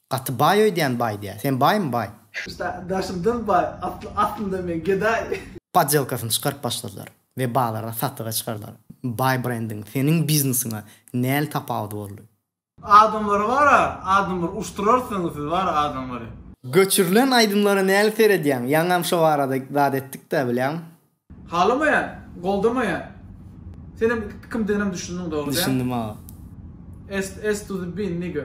Gaty baý öýdýän baý diýä. Sen baýmy baý. Şa daşymdan baý atly aslynda men gedaý. Podjelkasyny çykaryp başladylar we bazara satyga çykardylar. Baý brendiň seniň biznesiňe näl tapawudy boldy. Adamlary bara adamlar uşdurarsyňyz siz bara adamlary. Göçürilen aýdymlara näli seredýäň? Ýaňam şo barada zat etdikdä bilýäň. Halamaýan, goldamaýan. Senem kimdiginem düşündiň dogry däl. Düşündim aga. S to the bin nigga.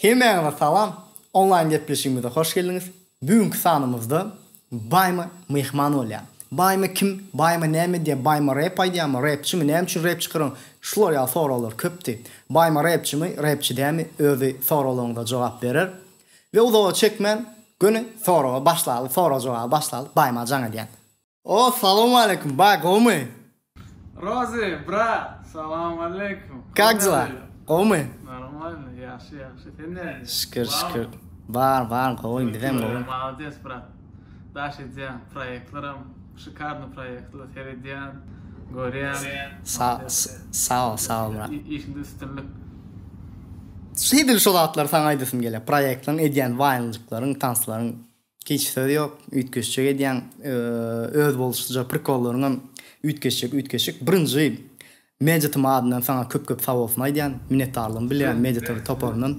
Hemmäňize salam! Onlaýn gepleşigimize hoş geldiňiz! Bu günki sanymyzda Baýma myhman bolýar. Baýma kim? Baýma näme edýär? Baýma rep aýdýarmy? Repçimi? Näme üçin rep çykaryň? Şular ýaly soraglar köpdi. Baýma repçimi, repçi dämi? Özi soraglaryňyza jogap berer. We uzaga çekmän göni soraga başlaly sorag jogaba başlaly baýma jaň edýän. O salowmaleýkum baý gowmy. Rozy brat salowmaleýkum. Kak dela gowmy. Normalno ýagşy ýagşy sen nädip. Şükür şükür bar bar gowy bizem gowy. Molodes brat. daş edýän proýektleram şikarny proýektler seredýän görýän saol saol brat işinde üstünlik. Edil şo zatlary saňa aýdasym gelýär proýektleň edýän waýnjyklaryň tanslaryň hiç söz ýok üýtgeşjek edýäň özboluşlyja prikollaryňam üýtgeşjek üýtgeşik birinji Meditatyň adyndan saňa köp köp sabolsun aýdýan minnetdarlygymy bilýän Meditaty toparyndan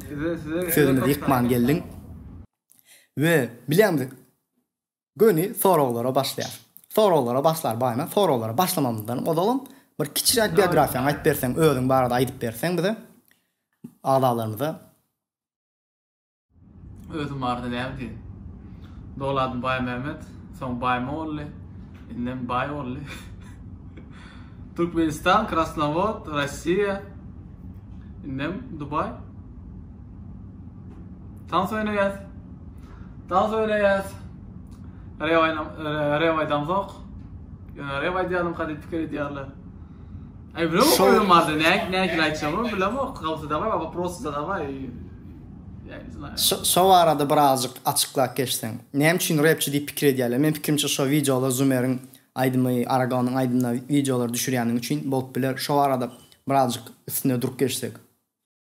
sözümizi ýykman geldiň. we bilýäňmi göni soraglara başlaýar. Soraglara başlar baýna soraglara başlamamyzdan ozalam bir kiçiräk biografiýaňy aýyp berseň özüň barada aýdyp berseň bize agzalarymyza. Özüm barada näme diýen. Doly adym Baýmämmet, soň Baýmogully, indem Baýogully. Türkmenistan, Krasnowod, Rossiýa, indem Dubaý. Tans oýnaýas. Tans oýnaýas. Rew aýna rew aýdan zok. Ýöne rew aýdýarym kady pikir edýärler. Ay bro oýun bardy. Ne ne aýtjagym bilemok. Gawsy da bar, waпрос da bar. Şo barada birazjyk açyklap geçseň. Näme üçin repçi diýip pikir edýärler? Meniň pikirimçe şo wideolar Zumeriň aýdymy, Aragonyň aýdymyna wideolar düşürýänligi üçin bolup biler. Şo barada birazjyk üstünde durup geçsek.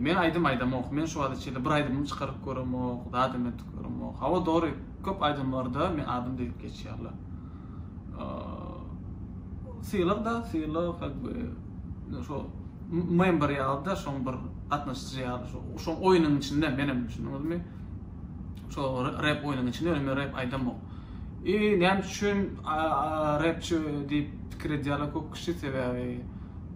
Men aýdym aýdamok, men şu wagta çenli bir aýdymym çykaryp göremok, zadam edip göremok. Hawa dogry, köp aýdymlarda men adym diýlip geçýärler. Sylag da, sylag как бы şu member ýaly-da, şoň bir gatnaşyjy ýaly, şu şoň oýnuň içinde menem düşündiňizmi? Şu rep oýnuň içinde men rep aýdamok. I näme üçin repçi diýip pikir edýärler köp kişi sebäbi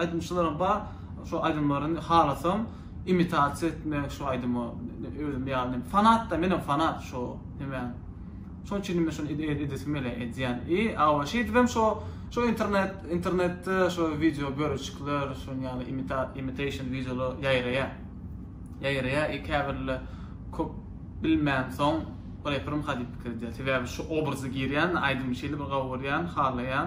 Aýdymçylaram bar, şo aýdymlaryny halasam imitasiýa etmek şo aýdyma özüm ýaly fanatda menem fanat şo nemäň şoň üçinem men şony edesim gelýär edýän i awa şeýdibem şo şo internet internetde şo wideo bölejikler şoň ýaly imita imitation wideolar ýaýraýar ýaýraýar i käbirle köp bilmän soň reperim ha diýip pikir edýär sebäbi şo obraza girýän aýdymy şeýle bir gawy görýän halaýan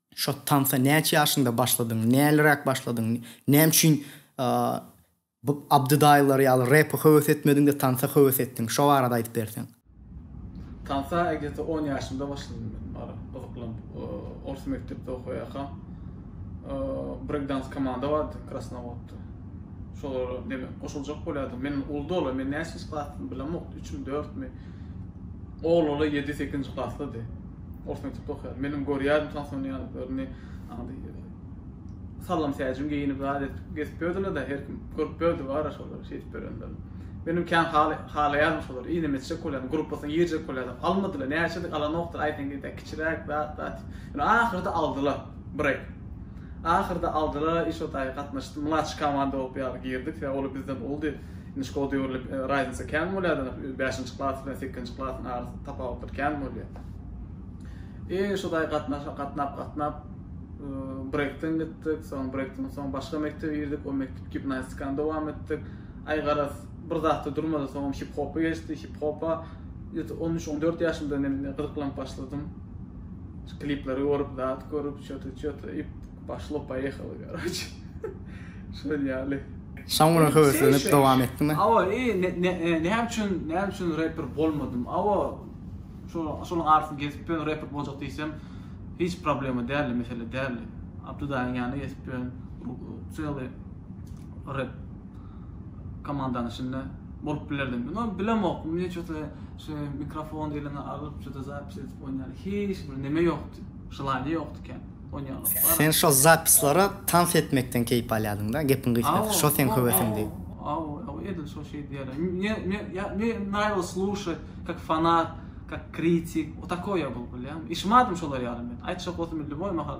Şo tansa näçe ýaşyňda başladyň? Näliräk başladyň? Näme üçin bu Abdydaýylar ýaly repe höwes etmediň-de tansa höwes etdiň? Şo barada aýdyp berseň. Tansa gdeta on ýaşymda başladym men bar gyzyklanp. Ors mekdepde okaýarkam brekdans komanda bardy Krasnowodda. Şolara neme goşuljak bolýardym. Men uldala men näçinji klasdymy bilemok. Üçmi, dörtmi. Oglala ýedi, sekizinji klaslydy. Ors mekdepde okaýan. Menem görýädim şan şony ýalylaryny. Ady sallam säjin geýinip zat edip gezip ýördiler de her kim görüp ýördi bar şolary şeýdip berenlerini. Menem kän halaýarym şolary inim etjek bolýan gruppasyna girjek bolýan almadylar näçedik alanokdyr aýtsaň diýdi kiçiräk zat zat. Ýöne ahyrda aldylar break. Ahyrda aldylar işotaý gatnaşdy mlaç komanda bolup ýaly girdik sebäbi olar bizden uldy. Nji kod döwürlik raznisa kän bolýar da bäşinji klas bilen sekizinji klasyň arasynda tapawutlar kän bolýar. E şuday gatnaşa gatnap gatnap brekden gitdik, soň brekden soň başga mekdebe girdik, o mekdep gimnastikany dowam etdik. Ay garaz bir zatda durmady, soň hip hopa geçdi, hip hopa 13-14 ýaşymda men gyzyklanyp başladym. Klipleri görüp, zat görüp, şöte şöte Poşlo poýehalo karoçe şol ýaly. Şam günem höweslenip dowam etdiňmi. Awa eee näme üçin näme üçin reper bolmadym awa şonuň arasynda gezip ýörün reper boljak diýsem hiç problema däldi mesele däldi Abdudaýyň ýanyna gezip ýörün çyly rep komandanyň içinde bolup bilerdim ýöne bilemok men ço ta şu mikrofon eliňe alyp ço ta zapis edip oýnaýan hiç bir neme ýokdy želaniýa ýokdy kän. Sen şo zapislara tans etmekden keýp alýadyňda gepiň gysgasy şo seň höwesiňdi. Aw aw edil şo şeý diýýärler. Me me nravil sluşat kak fanat kak kritik o takoý ýa bul bilýäňmi. Işim adym şolar ýaly men. Aýtjak bolsam indi boý mahal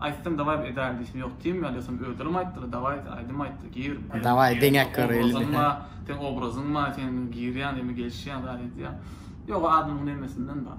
aýtsam dawaý bir edäýin diýsim ýok diýim ýaly ýogsam özlerim aýtdylar dawaý aýdym aýtdyr gir. Dawaý deňäk göreli diýip he. Seň obrazyň bar sen girýäň diýme gelişýäň zat edýäň. Ýok o adamyň nemesinden bar.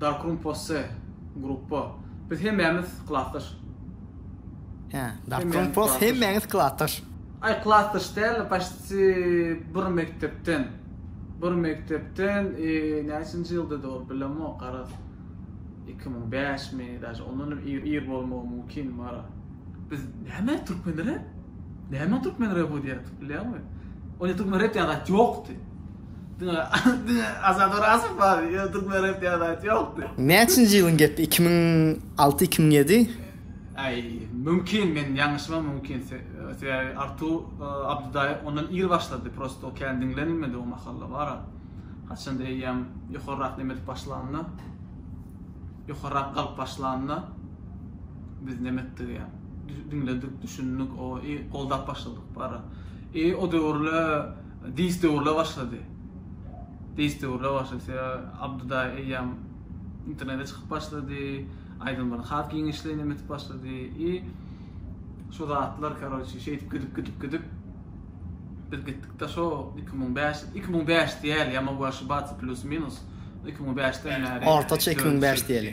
Darkroom Posse gruppa. Biz hemmämiz klasdaş. Hä, Darkroom Posse hemmäňiz klasdaş. Aý, klasdaş däl, paşti bir mekdepden. Bir mekdepden, näçinji ýyldady ol, bilemok, garaz. Iki müň bäşmi, daže ondan hem ir bolmagy mümkin, Mara. Biz näme türkmen rep? Näme türkmen rebu diýýärdik, bilýäňmi? Onda türkmen rep diýen zat ýokdy. Diňe diňe Azat Orazow bar ýa türkmen rep diýen zat ýokdy. Näçinji ýylyň gepi iki müň alty iki müň ýedi. Aý mümkin men ýalňyşymam mümkin sebäbi Artu Abdydaýew ondan ir başlady prosto o kän diňlenilmedi o mahalla bara haçanda eýýäm ýokarrak neme edip başlanda ýokarrak galyp başlanda biz neme etdik ýa diňledik düşündik o i goldap başladyk bara i o döwürle Diýste urla başlady. Diýste urla başlady. Abdy daýy eýýäm internete çykyp başlady. Aýdymlary has giňişleýin hem etip başlady. I şu zatlar karoçi şeýdip gidip gidip gidip biz gitdik da şo iki müň bäş iki müň bäş diýeli ýa mogu aşybaca plýus minus iki müň bäşden bäri ortaça iki müň bäş diýeli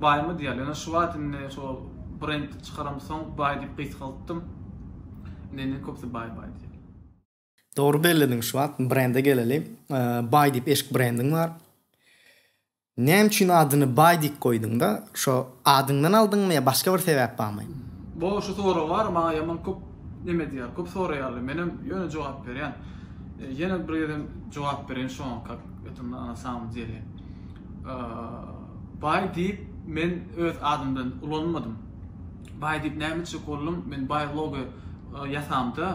Baýmy diýýärler. Ýöne şu wagt indi şo brend çykaramsoň baý diýip gysgaltdym. Indi indi köpüsi baý baý diýýär. Dogry bellediň şu wagt brende geleli. Baý diýip eşik brendiň bar. Näme üçin adyny baý diýip goýduňda? Şo adyňdan aldyňmy ýa başga bir sebäp barmy? Bo şu sorag bar maňa ýaman köp neme diýýär köp soraýarlar menem ýöne jogap berýän. Ýene bir gezem jogap bereýin şoňa kak eto na samom dele. Baý diýip men öz adymdan ulanmadym. Baý diýip näme etjek boldum? Men baý logo ýasamda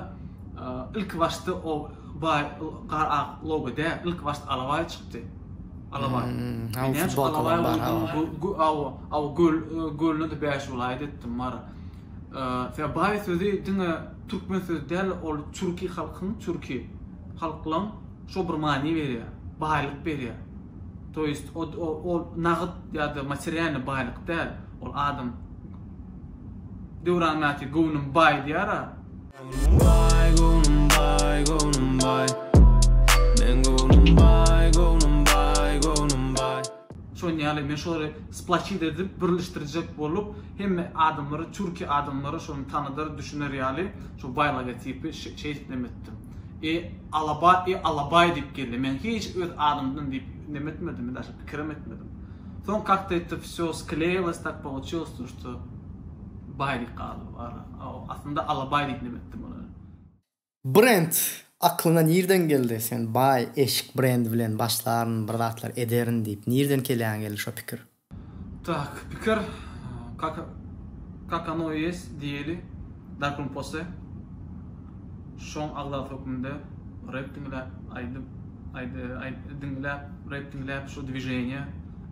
ilki başda o baý gar ak logo däl, ilki başda alabaý çykdy. Alabaý. Men näme üçin alabaý goýdum? Gölüne-de bäş welaýat etdim mara. Sebäbi baý sözi diňe türkmen sözi däl, ol çurki halkyň, çurki halklaryň, Şo bir many berýär, baýlyk berýär. To ýest ol nagyt ýa-da materialnyý baýlyk däl. Ol adam Döwran mäti göwnüm baý diýýär-ä. Göwnüm baý, göwnüm baý, göwnüm baý. Meň göwnüm baý, göwnüm baý, göwnüm baý. Şonuň ýaly men şoly splaçit edip, birleşdirjek bolup, hemme adamlara, türki adamlara şony tanadar, düşüner ýaly, şo baý logotipi şeýdip nemetdim. E, alabaý, e, alabaý diýip geldi. Men hiç öz adymdan diýip neme etmedim, daşy pikirem etmedim. Soň kakto etdi vsýo skleýilos, tak polouçilos to, što baý diýip galdy bu ara. A, aslynda alabaý diýip neme etdim olara. Brend aklyňa nirden geldi? Sen baý, eşik brendi bilen başlaryn, bir zatlar ederin diýip, nirden kelýäňe geldi şo pikir? Tak pikir kak kak ono i jest diýeli darkun pose şoň agzasy hökmünde rep diňläp aýdyp aýdy aýt diňläp rep diňläp şu dwiženiýa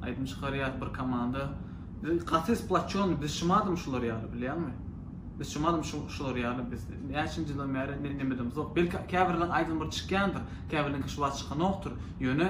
aýdym çykarýas bir komanda biz gaty splaçony biz şumadym şular ýaly bilýäňmi biz şumadym şu şular ýaly biz näçinji ýyldan bäri ne nemedemzok belki käbirleriň aýdymy bir çykýandyr käbirleriňki şu wagt çykanokdyr ýöne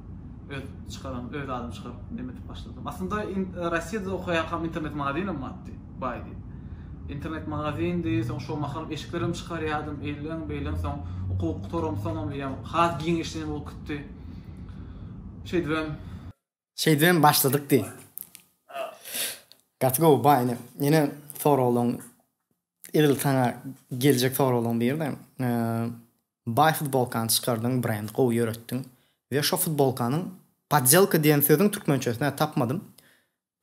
öz çykaran öz adymy çykaryp neme edip başladym. Aslynda Rossiýada okaýarkam internet magazynym bardy, baýdy. Internet magazyny, soň şo mahal eşiklerim çykarýardym, eýlen, beýlen, soň okuw gutaram, soňam diýýän, has giňişleýän bolup gitdi. Şeýdibem. Şeýdibem başladyk diý. Gaty gowy baý ine. Ýene soraglaň Edil saňa geljek soraglaryň biri-de, baý futbolkany çykardyň, brend gowy ýöretdiň we şo futbolkanyň poddelka diýen sözüň türkmençesini-ä tapmadym,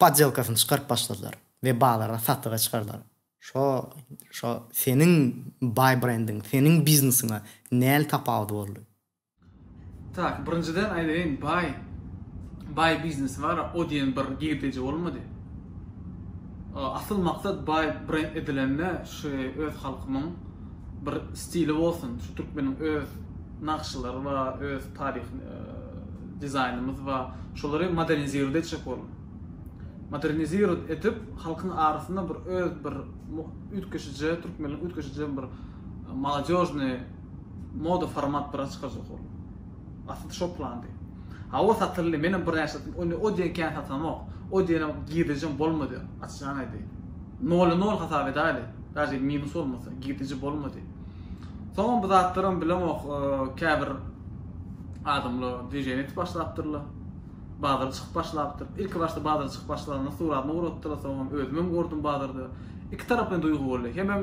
poddelkasyny çykaryp başladylar we bazara satlyga çykardylar. Şo, şo seniň baý brendiň, seniň biznesiňe näl tapawudy boldy? Tak birinjiden aýdaýyn baý baý biznesi bar o diýen bir girdeji bolmady. Asyl maksat baý brend edilende şu öz halkymyň bir stili bolsun şu türkmeniň öz nagşylary bar öz taryh dizaýnymyz bar şolary modernizirowat etjek boldum. Modernizirowat edip halkyň arasynda bir öz bir üýtgeşije türkmenligiň üýtgeşije bir molodežnyý Moda format bira çykajak ol. Asyl şo plandy. Hawa satyldy menem birnäçe satdym ony o diýen kän satanok. O diýenem girdejem bolmady açjaň aýdaýyn. Nola nol hasap edäýeli daže minus bolmasa girdeji bolmady. Soňam bu zatlaram bilemok käbir adamlar dwiženiýa edip başlapdyrlar. Bazara çykyp başlapdyr. Ilki başda bazara çykyp başlanda suratyny gurapdylar soňam özümem gördüm bazarda. Iki tarapyn duýgy boldy. Hemem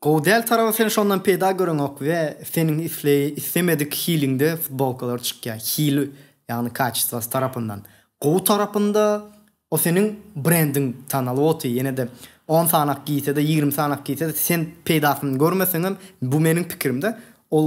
Gowy däl taraby sen şondan peýda göreňok we seniň isleý islemedik hiliňde futbolkalar çykýa hili ýagny kaçestvasy tarapyndan gowy tarapynda o seniň brendiň tanalyp oty ýenede on sanak giýsede ýigrimi sanak giýsede sen peýdasyny görmeseňem bu meniň pikirimde ol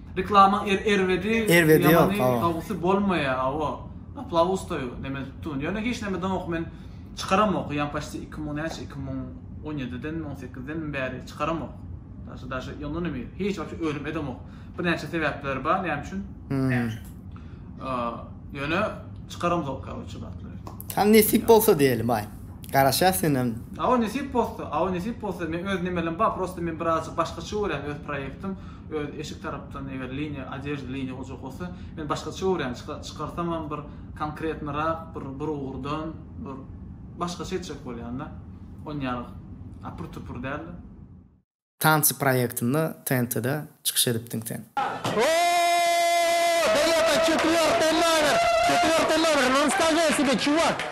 Reklama er erbedi Erbedi ýok, ýamany hawa. dawysy bolmaýa hawa aplauz da ýok neme tutyn ýöne hiç neme daňok men çykaramok ýan paçti iki müň näçe iki müň on ýedidenmi on sekizdenmi bäri çykaramok daşa daşa ýondan hem ir hiç wapşe ölüm edemok birnäçe sebäpleri bar näme üçin a ýöne çykaramzok karoçe bartler. Tam nesip bolsa diýelim aý. Garaşýas senem. Hawa nesip bolsa hawa nesip bolsa men öz nemelim bar prosta men birazjyk başgaça görýän öz proýektim Öz eşik tarapdan eger liniýa odežda liniýa boljak bolsa men başgaça görýän çykarsamam bir konkretnyrak bir bir ugurdan bir başgaça etjek bolýanda on ýaly apur tupur dälde. Tansy proýektinde TNT-de çykyş edipdiň sen. Ooo Derýa ata çekiň ýaly belläber çekiň ýaly belläber Nonstagesiýada çuwat.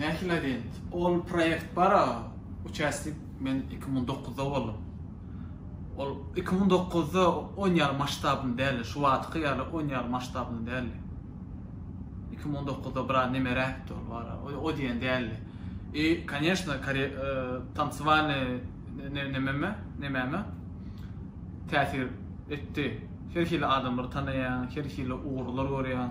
Nähili agent? Ol proýekt bar-a, uçastik, men iki müň dokuzda boldum. Ol iki müň dokuzda on ýaly masştabynda däldi, şu wagtky ýaly on ýaly masştabynda däldi. Iki müň dokuzda biraz nemeräkdi ol bar-a, o diýen däldi. I, koneşno, tansiwalny nememe, nemäme täsir etdi. Her hili adamlary tanaýaň, her hili ugurlar görýäň.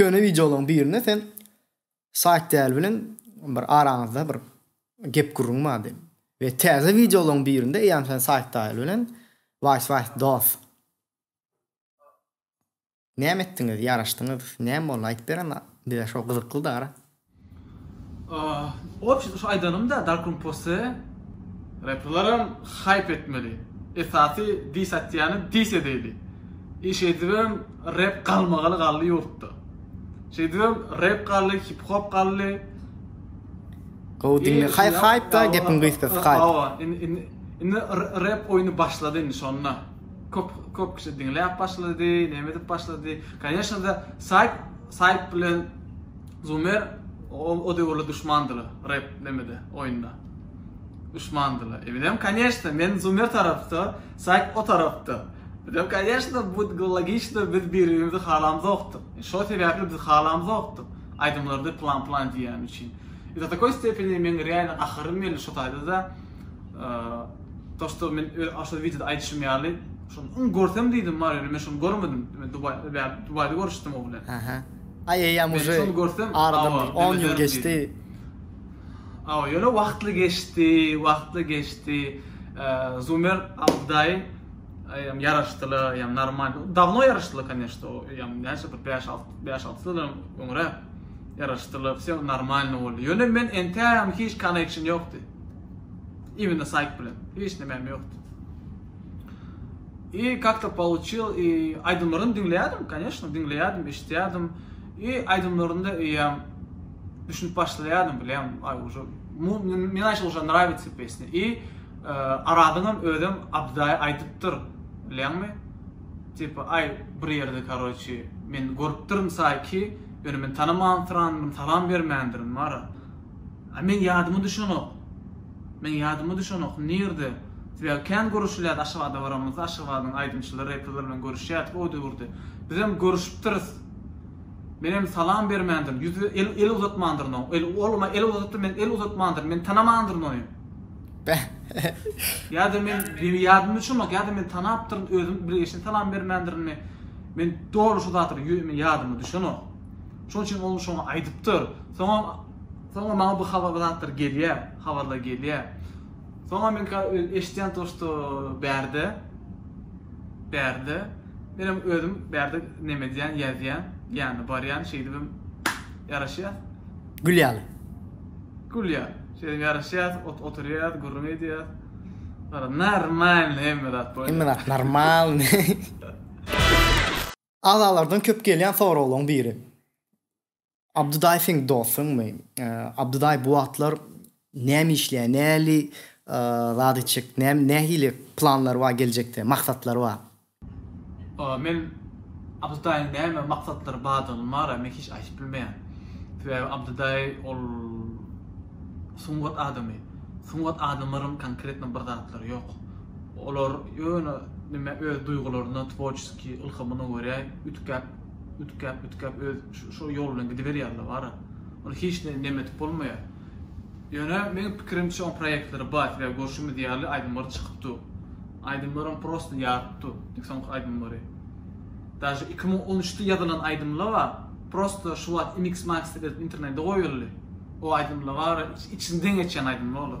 Köne wideolaň birinde sen Saýt däli bilen bir araňyzda bir gep gürrüň bardy. We täze wideolaň birinde eýýäm sen Saýt däli bilen Waýs waýs dos. Näme etdiňiz, ýaraşdyňyz, näme boldy aýdyp berem bize şo gyzykly dara. Obşin şu aýdanymda darkun pose reperlaram haýp etmeli esasy dis atýany dis edeýli i şeýdibem rep galmagaly galdy ýurtda şeýdibem rep galdy hip hop galdy Gowy diňle haý haýp da gepiň gysgasy haýp. Hawa indi indi rep oýny başlady indi şonda köp köp kişi diňläp başlady neme edip başlady kanyeshna da saýp saýp bilen Zumer, Ol o döwürler duşmandyla, Reb, nemede, oýunda. Duşmandyla. Eminm, Koneçno, men Zumer tarapda, Saýk o tarapda. Eminm, Koneçno, bu logiçno, biz bir-birimizi halamzokdyk. Şo sebäpli biz halamzokdyk. Aýdymlarda plan-plan diýýäni üçin. I do takoý stepeni meň real gaharym geldi şo taýda-da. To što men öz şol wideoda aýdyşym ýaly, şony iň görsem diýdim, bar ýöne men şony görmedim. Men Dubaýda görüşdim o bilen. Aý eýýäm uje aradan bir on ýyl geçdi. Awa ýöne wagtly geçdi, wagtly geçdi. Zumer Abdaýew eýýäm ýaraşdylar, eýýäm normal. Dawno ýaraşdylar koneşno, o eýýäm näçe bir bäş alt, bäş alty ýyldan öňräk ýaraşdylar, wse normalny boldy. Ýöne men entägem hiç koneksiýon ýokdy. Imенно saýt bilen hiç nämäm ýokdy. I kakto pouçil i aýdymlaryny diňleýärdim koneşno diňleýärdim eşitýärdim i aýdymlarynda eýýäm düşünip başlaýardym bilýän aý uže men aýşe uže nrawitsa pesne i aradyňam özem abdaý aýdypdyr bilýäňmi tipa aý bir ýerde karoçi men görüpdirin saýki ýöne men tanamansyranmyn salam bermändirin mara A meň ýadyma düşenok. Meň ýadyma düşenok. Nirde? Sebäbi kän görüşilýärdi Aşgabada baramyzda, Aşgabadyň aýdymçylary, reperler bilen görüşýärdik o döwürde. Bizem görüşipdiris. Menem salam bermändirin, ýüz el el uzatmandyryn oň. El ol ma el uzadypdyr, men el uzatmandyryn, men tanamandyryn ony. Ýa-da men beý ýadyma düşenok, ýa-da men tanapdyryn, özüm bilgeşine salam bermändirinmi? Men doly şu zatlar ýü men ýadyma düşenok. Şoň üçin ol şoňa aýdypdyr. Soňam soňam maňa bu habar zatlar gelýär, habarlar gelýär. Soňam men ka öz eşidýän to şto bärde bärde menem özüm bärde neme edýän ýazýan, ýany barýan şeýdibem ýaraşýas. Gül ýaly. Gül ýaly. Şeýdibem ýaraşýas, ot oturýas, gürrüň edýas. Gara normalny hemme zat bolýar. Hemme zat normalny. Agzalardan köp gelýän soraglaryň biri. Abdydaý seň dostuňmy? Abdydaý bu wagtlar näme işleýär? Nähili zat etjek? Nähili planlary bar geljekde, maksatlary bar? Men Abdydaýyň näme maksatlary bardygyny mara men hiç aýdyp bilmeýän. Sebäbi Abdydaý ol sungat adamy. Sungat adamlaryň konkretno bir zatlary ýok. Olar ýöne neme öz duýgularyna, tworçeskiý ylhamyna görä üdkäp, üdkäp, üdkäp öz şo ýol bilen gidiberýärler bara. Ony hiç ne neme edip bolmaýar. Ýöne meň pikirimçe oň proýektleri bar, sebäbi görşümiz ýaly aýdymlary çykyp dur. Aýdymlaram prosta ýaryp dur, indi soňky aýdymlary. Daže iki müň on üçde ýazylan aýdymla bar, prosta şu wagt mix-master edip internede goýuldy. O aýdymla bara içinden geçýän aýdymla olar.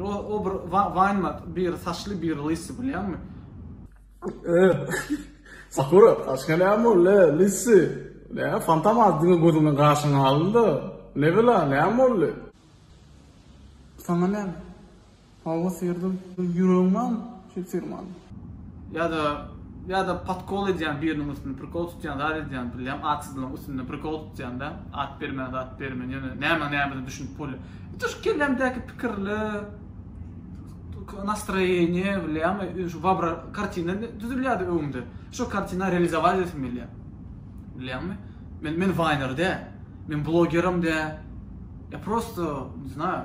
O bir wine biri saçly biri lysy bilýäňmi. Sakura başga näme boldy lysy. Näme fantam az diňe gözüňden gaşyňy aldy. Nebila näme boldy. Saňa näme. Hawa serdar ýüregiňem Şu firmany. Ýa-da, ýa-da podkol edýän biriniň üstünde, prikol tutýan zat edýän billem, atsyzlygyň üstünde prikol tutýanda, at bermän zat bermän, ýöne nämäň nämesine düşünip bolýa. Ýiti şu kellämdäki pikirler, nastroýeniýe billem, şu wabra, kartina düzülýärdi öňümde. Şu kartina realizować edesim gelýär. Bilýäňmi? Men, men waýner däl. Men blogerem däl. Ýa prosto, ne znаю.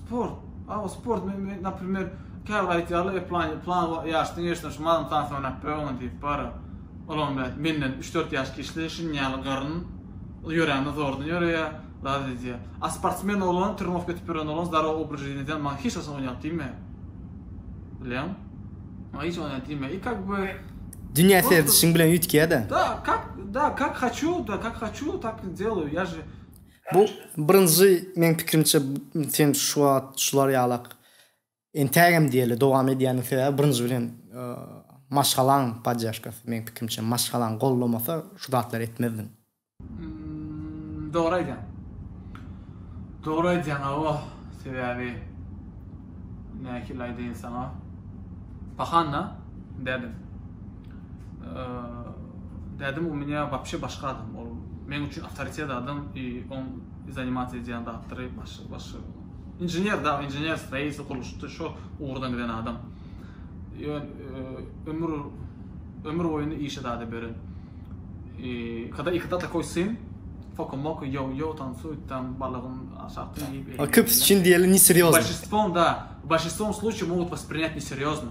Sport. Awa sport men men naprimer käbir aýtýarlar e plan plan ýaşdan geçdiň şu madan tans oýnap ber oňa diýip bara olam bäh menden üç dört ýaş kiçli şuny ýaly garyn ýörände zordan ýöreýä zat edýä a sportsmen oglan trenowka edip ýören oglan zdarow obraz жизни edýän maňa hiç haçan oýnap diýmeýä bilýäň maňa hiç oýnap diýmeýä i kak by dünýä serdişiň bilen üýtgeýä da da kak da kak haçu da kak haçu tak i delou ýa же Bu birinji meň pikirimçe sen şu wagt şular ýalak entägem diýeli dowam edýäniň sebäbi birinji bilen maşgalaň podyaşkasy meň pikirimçe maşgalaň gollamasa şu zatlary etmezdiň. Dogry aýdýaň. Dogry aýdýaň awa sebäbi nähili aýdaýyn saňa pahan-da dädem. Dädem u meni wapşe başga adam ol men üçin autoritet adam i on zanimat edýän zatdyry başga başga inžener da inžener streizi gurluşda şo ugurdan giden adam ýön ömür ömür boýuny işe dada beren i kada ikada ta koysin fokum moku yo yo tam su tam balagym aşakda ýyp a köp üçin diýeli ne serýozno başistwon da başistwon sluçy mogut was prinýat ne serýozno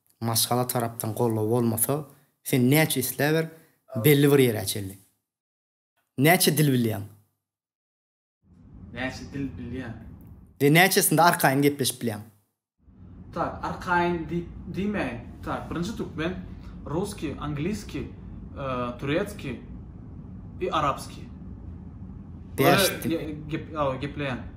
Maşgala tarapdan goldaw bolmasa, sen näçe isläber, belli bir ýere çenli. Näçe dil bilýäň? Näçe dil bilýäň? We näçesinde arkaýyn gepleşip bilýäň? Tak, arkaýyn diýip diýmäýin. Tak, birinji türkmen, russkiý, angliskiý, turetskiý we arabskiý. Beş dil. Gepleýän.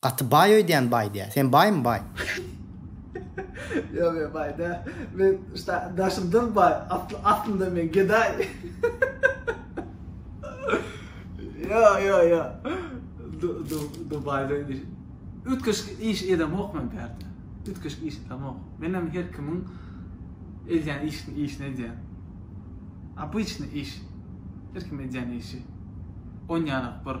Gaty baý öýdýän baý diýýä. Sen baýmy baý. Ýok men baý däl. Men şda daşymdan baý asly aslynda men gedaý. Ýok ýok ýok. Du du dubaýda indi üýtgeşik iş edemok men pärde. Üýtgeşik iş edemok. Menem her kimiň edýän işini işini edýän. Obyçny iş. Her kim edýän işi. Onýanok bir.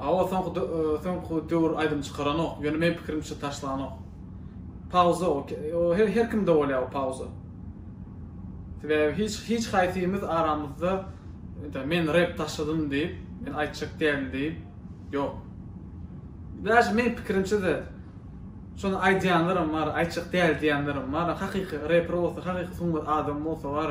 Awa soňky soňky döwür aýdym çykaranok, ýöne men pikirimçe taşlanok. Pauza o, her her kimde bolýar o pauza. Sebäbi hiç hiç haýsymyz aramyzda ýa men rep taşladym diýip, men aýtjak dälin diýip ýok. Daşy men pikirimçe-de şony aýdýanlaram bar, aýtjak däl diýenlerim bar. Hakyky reper bolsa, hakyky sungat adamy bolsa bar.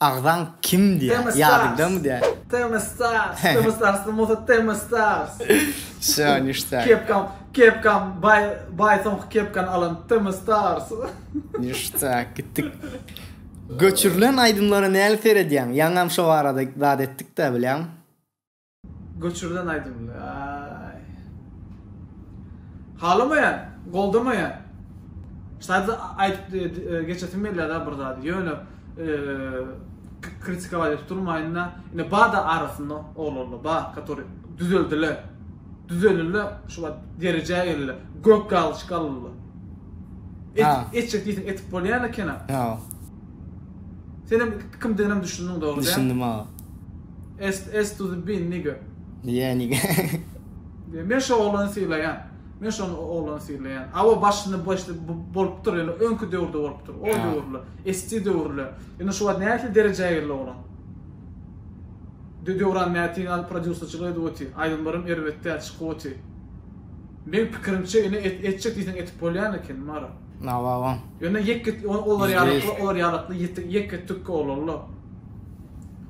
Agzaň kim diýä ýa-da dam diýä. Temistars Temistars kim bolsa Temistars. Şo nişta. Kepkam kepkam baý baý soňky kepkany alan Temistars. Nişta gitdik. Göçürilen aýdymlara näli seredýäň? Ýaňam şo barada zat etdik-dä bilýäň. Göçürlen aýdymly aý. Halamaýan, goldamaýan. Sadda aýdyp e, e, geçesim gelýär-de bir zady. Ýöne e, kritika aýdyp durmaýyn-da. Ine bada arasynda oglanlar ba, который düzeldiler. Düzeldiler, şu wagt derejä geldiler. Gök galçyk aldylar. Et, etjek diýseň etip bolýar ekeni. Ýa. Sen hem kimdigine düşündiň dogry. Düşündim aga. Est est to the bin nigga. Nige nige. Diýe men şo oglany sylaýan. Men şo oglany sylaýan. Awa başyny başly bolupdyr ýöne öňki döwürde bolupdyr. O döwürle. Esti döwürle. Ýöne şu wagt nähili derejä geldi oglan. Dö Döwran Mätiň al prodýuserçilik edip oty. Aýdymlarym erbet däl çykyp oty. Meň pikirimçe ýöne et etjek diýseň etip bolýan eken Mara. Awa awa. Ýöne ýeke olar ýalykly olar ýalykly ýeke tükki oglanlar.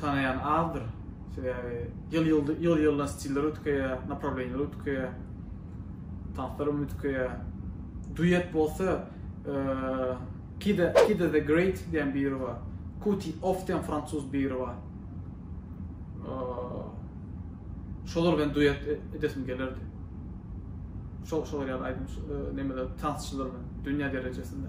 tanaýan azdyr. Sebäbi ýyl ýyl ýyldan stiller üýtgeýär, naprawleniýalar üýtgeýär. Tanslar hem üýtgeýär. Duet bolsa Kida Kida the Great diýen biri bar. Kuti Off diýen fransuz biri bar. Şolar bilen duet e, edesim gelerdi. Şol şolar ýaly aýdym nemeler tansçylar bilen dünýä derejesinde.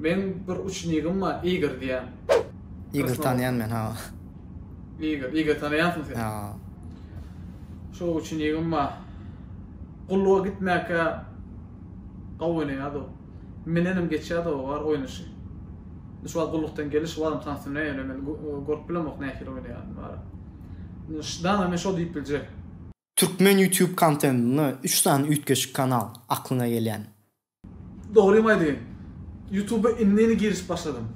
Meň bir uçnigim bar Igor diýen. Igor tanýan men ha. Igor, Igor tanýansyň sen. Ha. Şu uçnigim bar. Gulluga gitmäkä gawy oýnaýardy o. Menenem geçýärdi o bar oýnaşy. Şu wagt gullukdan geldi, şu wagtam tansyna ýöne men görüp bilemok nähili oýnaýanyny bar. Şdana men şo diýip biljek. Türkmen YouTube kontentinde üç sany üýtgeşik kanal aklyňa gelýämi? Dogrymy aýdaýyn. Youtuba indini girişip başladym.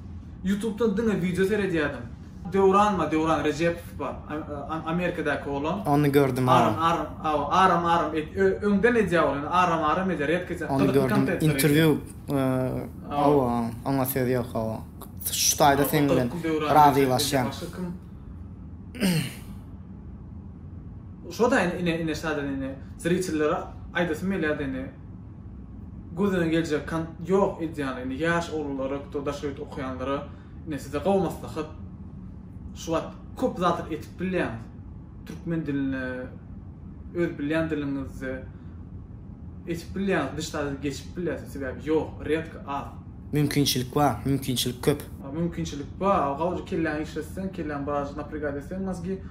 Youtubdan diňe wideo seredýärdim. Döwran bar, Döwran Rejepov bar, Amerikadaky oglan. Ony gördüm hawa. Aram aram hawa aram aram et öňden edýär ol indi aram aram edýär ýatk edýär. Ony gördüm interwýu hawa oňa söz ýok hawa. Şu taýda seň bilen razylaşýan. Şodaýn ine ine şadyr ine zritillere aýdasym gelýär de ine gözüne geljek kan ýok edýän ine ýaş oglanlara kto daş ýurt okaýanlara ine size gowy maslahat şu wagt köp zatlar etip bilýäňiz türkmen dilinde öz bilýän diliňizde etip bilýäňiz diş taze geçip bilýäsiz sebäbi ýok redko az. Mümkinçilik bar, mümkinçilik köp. Mümkinçilik bar, gowja kelläňi işletseň, kelläň biraz napregat etseň mozgi.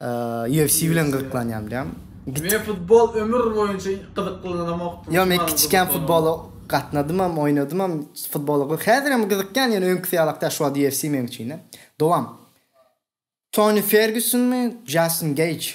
Eee, UFC bilen gyzyklanýarym diýýäň. Men futbol ömür boýunça gyzyklanamokdym. Ýok, men kiçikän futbola gatnadymam, oýnadymam futbola. Häzirem gyzykýan, ýöne öňküsi ýalak däl, şu wagt UFC meň üçin-de. Dowam. Toni Fergusonmy, Jastin Geýj?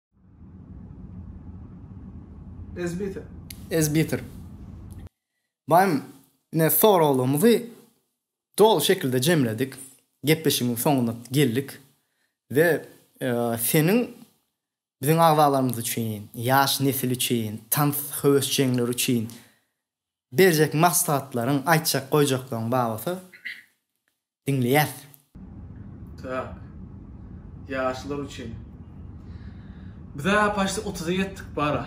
Ezbiter. Ezbiter. Baýym, ine soraglarymyzy doly şekilde jemledik. Gepleşigiň soňuna geldik we e, seniň biziň agzalarymyz üçin, ýaş nesil üçin, tans höwesjeňleri üçin berjek maslahatlaryň, aýtjak goýjaklaryň babatda Diňleýäs. Tak. Ýaşlar üçin. Bizä paşti otuza ýetdik bara.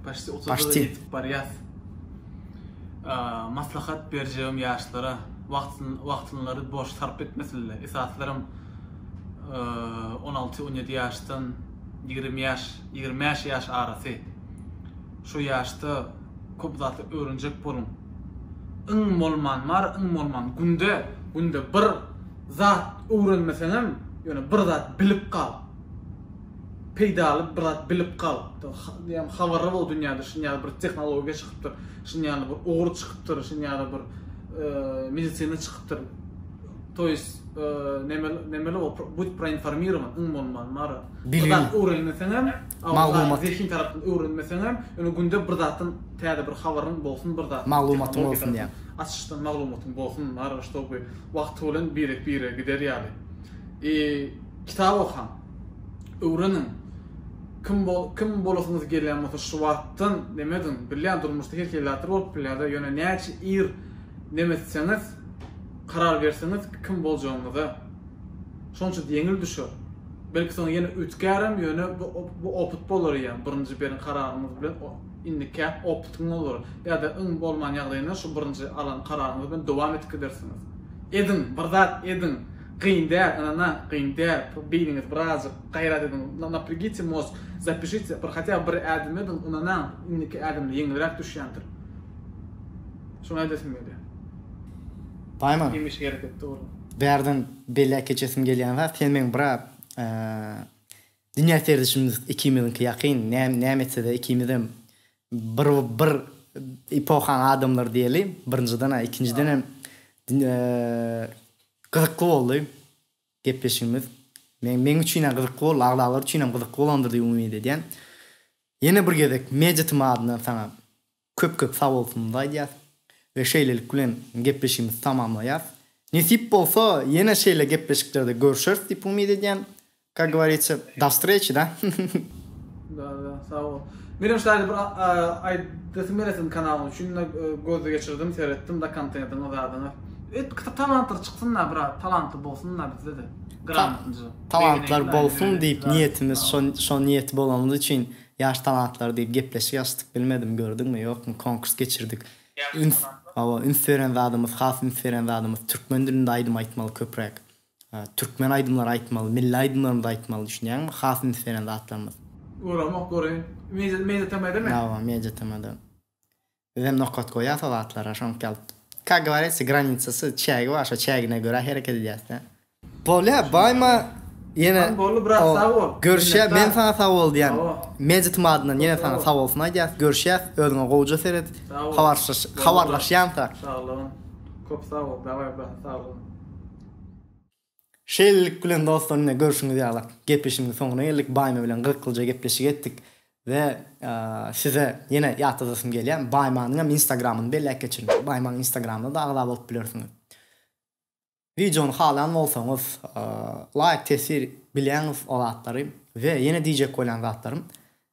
Paşti otuza ýetip barýas. Maslahat berjegim ýaşlara, wagtynlary boş sarp etmesinler. Esaslarem on alty, on ýedi ýaşdan ýigrimi ýaş, ýigrimi bäş ýaş arasy. Şu ýaşda. Köp zady öwrenjek boluň. Iň bolman bar iň bolman günde günde bir zat öwrenmeseňem ýöne bir zat bilip gal. Peýdaly bir zat bilip gal. Diýem habarly bol dünýäde şuny ýaly bir tehnologiýa çykypdyr, şuny ýaly bir ugur çykypdyr, şuny ýaly bir medisina çykypdyr. To ýes nemeli bol, budy proinformirowan iň bolman bar. Bir zat öwrenmeseňem Maglumat. Zehin tarapdan öwrenmeseňem, ýöne günde bir zatdan täze bir habaryň bolsun, bir zatdan Maglumatyň tehnologiýa bolsun tarapdan diýäň. açyşdan maglumatyň bolsun, naryň ştoby wagty bilen birek-birege gider ýaly. I kitap okaň. Öwreniň. Kim bol kim bolasyňyz gelýän bolsa şu wagtdan neme ediň. Bilýän durmuşda her hili zatlar bolup bilýär-de, ýöne näçe ir neme etseňiz, karar berseňiz kim boljagyňyza. Şonça-da ýeňil düşer. Belki soň ýene üýtgärem, ýöne bu opyt bolar eýýäm. Birinji beren kararyňyz bilen indi käk opytyň bolar. Ýa-da iň bolman ýagdaýynda şu birinji alan kararyňyz bilen dowam edip gidersiňiz. Ediň, bir zat ediň. Gyn däl, ynanaň, gyn däl. Beýniňizi birazjyk gaýrat ediň. Napregite mozg, zapishite, bir hatýa bir ädim ediň, ynanaň, indiki ädimde ýeňilräk düşýändir. Şuny aýdasyň gelýär. Paýman. Hemişe hereketde boluň. Bärden Beýläk eçesim gelýän zat sen meň biraz dünýä serdişimiz ikimiziňki ýakyn näme etsede ikimizem bir bir epohaň adamlary diýeli birinjiden a ikinjidenem gyzykly boldy gepleşigimiz men meň üçinem gyzykly boldy agzalar üçinem gyzykly bolandyr diýip umyt edýän ýene bir gezek media tym adyndan saňa Köp köp sag bolsuňyz aýdýas we şeýlelik bilen gepleşigimizi tamamlaýas. Nesip bolsa ýene şeýle gepleşiklerde görüşeris diýip umyt edýän. Kak govoritsýa do vstreçi da. Da da sag bol. Menem şaýly bir aýdasym gelýär siziň kanalyňyz üçin da göz geçirdim seretdim da kontentiňiz zadyňyz. Et kit talantlar çyksyn da biraz talantly bolsun da bizde de gramotnyja. Talantlar bolsun diýip niýetimiz şo şo niýeti bolanymyz üçin Ýaş talantlar diýip gepleşik açdyk bilmedim gördüňmi ýokmy konkurs geçirdik üns hawa üns beren zadymyz has üns beren zadymyz türkmen dilinde aýdym aýtmaly köpräk türkmen aýdymlary aýtmaly milli aýdymlarymyzy aýtmaly düşünýäňmi has üns beren zatlarymyz. Göramok göreýin. Media tm-da mi? Hawa media tm-da. Bizem nokat goýýas o zatlara şoňk ýaly Kak gowaresi granicasy çägi bar şo çägine görä hereket edýäs dä. Bolýa baýma ýene Hany boldy brat sag bol. Görüşýä men saňa sag bol diýýän Mejit madyndan ýene saňa sag bolsun aýdýas görüşýäs özüňe gowja seret habarsyş habarlaşýansak. Saglygyn kop sag bol daway brat saglygyn. Şeýlelik bilen dostlar ine görşüňiz ýaly gepleşigimiziň soňuna geldik. Baýma bilen gyrkylja gepleşik etdik we size ýene ýatladasym gelýär, Baýmanyň hem instagramyny belläp geçiň. Baýmanyň instagramyna-da agza bolup bilersiňiz. Wideony halaýan bolsaňyz laýk tesir bilýäňiz o zatlary we ýene diýjek bolýan zatlarym